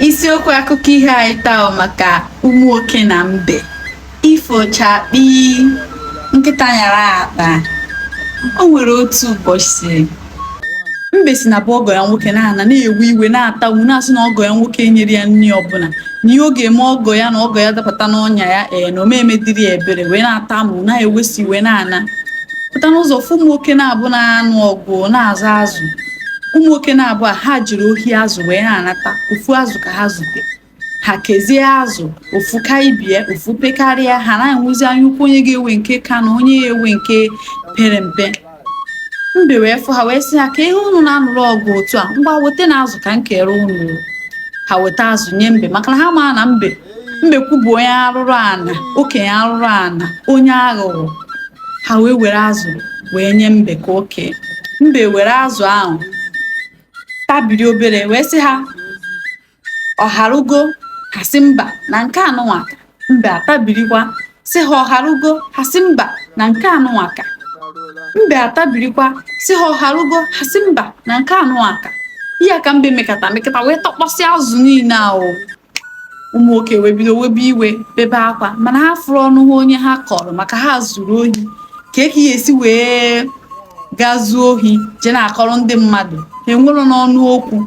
isiokwu akụkọ iho anyị taa maka ụmụ nwoke na mbe ifo chakpi nkịta nyara akpa o nwere otu ụbọchị mbe si na be ọgọ ya nwoke na-ana na-ewe iwe na-atamu na-asị na ọgọ ya nwoke enyerọ ya nri ọbụla na ihe ọ ga-eme ọgọ ya na ọgọ ya dapụta n'ọnya ya ee na ọ ma emedịrị ya ebere wee na-atamu na-ewesi iwe na-ana pụta n'ụzọ fụ ụmụ nwoke naabọ na-anụ ọgụ na-azọ azụ ụmụ nwoke naabọ a ha jere ohi azụ wee na-anata ofu azụ ka ha zute ha kezie azụ ofu ka ibe ya ofu pekarịa ha na-enwezi anya ukwu onye ga-ewe nke ka na onye ya-ewe nke pere mpe mbe wee fụ ha wee sị ha kee ihe unu na-anụrụ ọgụ otu a ngwa wetanụ azụ ka m keere unu ha weta azụ nye mbe maka na ha ma na mbe mbekwu bụ onye arụrụ ana oke onye arụrụ ana onye aghụghọ ha wee were azụ wee nye mbe ka o kee mbe were azụ ahụ tabiri obere wee sị ha ọ harugo ha sị mba na nke anụnwa ka mbe atabirikwa sị ha ọ harugo ha sị mba na nke anụnwa ka mbe atabirikwa sị ha ọ harugo ha sị mba na nke anụnwa ka ihe a ka mbe mekata mekata wee takpọsịa azụ niile ahụ ụmụ nwoke wee bido webe iwe bebe akwa mana ha afụrọ ọnụ ha onye ha kọrọ maka ha zuru ohi kee ka ị ya-esi wee gaa zuo ohi jee na-akọrọ ndị mmadụ ha enwerọ n'ọnụ okwu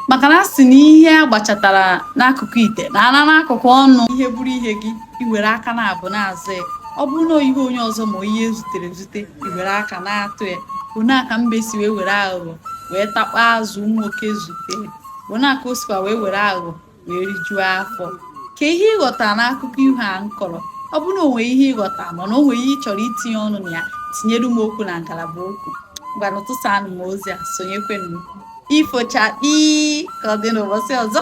maka na a sị na ihe a gbachatara n'akụkụ ite na-ana n'akụkụ ọnụ ihe bụrụ ihe gị i were aka naabọ na-azọ ya ọ bụrụ na ihe onye ọzọ ma ihe e zutere ezute i were aka na-atụ ya ọ nya ka mbe si wee were aghụghọ wee takpọọ azụ ụmụ nwoke zute bụ nya ka o sikwa wee were aghụghọ wee rijuo afọ kee ihe ị ghọta n'akụkọ iho a m kọrọ ọ bụrụ na o nwere ihe ị ghọta mana o nwere ihe ị chọrọ itinye ọnụ na ya tinyere m okwu na ngalaba okwu ngwanụ tụsanụ m ozi a sonyekwenụ ifo chakpi ka ọ dị n'ụbọchị ọzọ